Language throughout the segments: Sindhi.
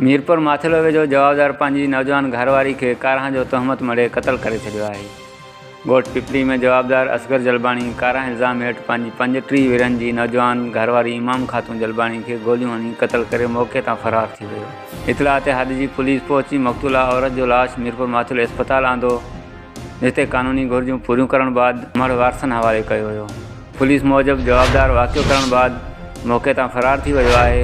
ميرپور ماٿيلوي جو جوابدار پنهنجي نوجوان گهر واري کي ڪارهان جو تهمت مڙهي قتل ڪري ڇڏيو آهي. ڳوٺ پپري ۾ جوابدار اصغر جلباڻي ڪارهان الزام هيٺ پنهنجي پنج ٽيهه ورهين جي نوجوان گهر واري امام خاتون جلباڻي کي گوليون هڻي قتل ڪري موقعي تان فرار ٿي ويو. اطلاع تي هاڏجي پوليس پهچي مقتولا عورت جو لاش ميرپور ماٿيلو اسپتال آندو. جتي قانوني گهرجون پوريون ڪرڻ بعد مڙهه وارثن حوالي ڪيو ويو. پوليس موجب جوابدار واقعو ڪرڻ بعد موقعي تان فرار ٿي ويو آهي،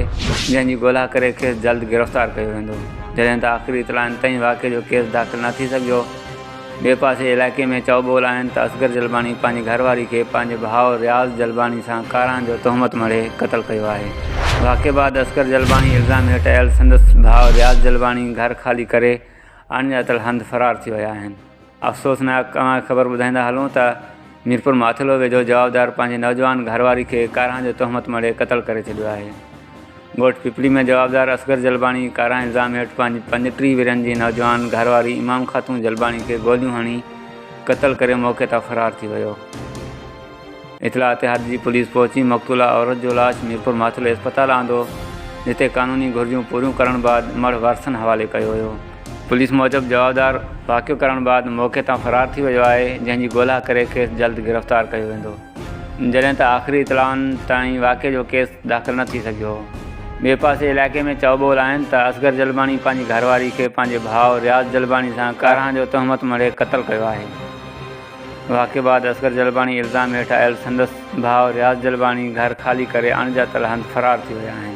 جنهن جي ڳولها ڪري کيس جلد گرفتار ڪيو ويندو. جڏهن ته آخري اطلاعن تائين واقعي جو ڪيس داخل نه ٿي سگهيو. ٻئي پاسي علائقي ۾ چؤ ٻول آهن ته اصغر جلباڻي پنهنجي گهر واري کي پنهنجي ڀاء رياض جلباڻي سان ڪارهن جو تهمت مڙهي قتل ڪيو آهي. واقعي بعد اصغر جلباڻي الزام هيٺ آيل سندس ڀاء رياض جلباڻي گهر خالي ڪري اڻڄاتل هنڌ فرار ٿي ويا آهن. افسوسناڪ اوهان کي خبر ٻڌائيندا هلون ته ميرپور ماٿلو ويجهو جوابدار پنهنجي نوجوان گهرواري کي ڪارهن جو تهمت مڙهي قتل ڪري ڇڏيو آهي. ڳوٺ پپلي ۾ جوابدار اصغر جلباڻي ڪارهن الزام هيٺ پنهنجي پنج ٽيهه ورهين جي نوجوان گهرواري امام خاتون جلباڻي کي گوليون هڻي قتل ڪري موقعي تان فرار ٿي ويو. اطلاع تي حد جي پوليس پهچي مقتولا عورت جو لاش ميرپور ماٿلي اسپتال آندو جتي قانوني گهرجون پوريون ڪرڻ بعد مڙهه وارثن حوالي ڪيو ويو. پوليس موجب جوابدار واقعو ڪرڻ بعد موقعي تان فرار ٿي ويو آهي جنهن جي ڳولها ڪري کيس جلد گرفتار ڪيو ويندو جڏهن ته آخري اطلاعن تائين واقعي جو ڪيس داخل نه ٿي سگهيو هو. ٻئي پاسي علائقي ۾ چئو ٻول آهن ته اصغر جلباڻي پنهنجي گهرواري کي پنهنجي ڀاء رياض جلباڻي سان ڪارهن جو تهمت مڙهي قتل ڪيو آهي. واقعي بعد اصغر جلباڻي الزام هيٺ آيل سندس ڀاء رياض جلباڻي گهر خالي ڪري اڻڄاتل هنڌ فرار ٿي ويا آهن.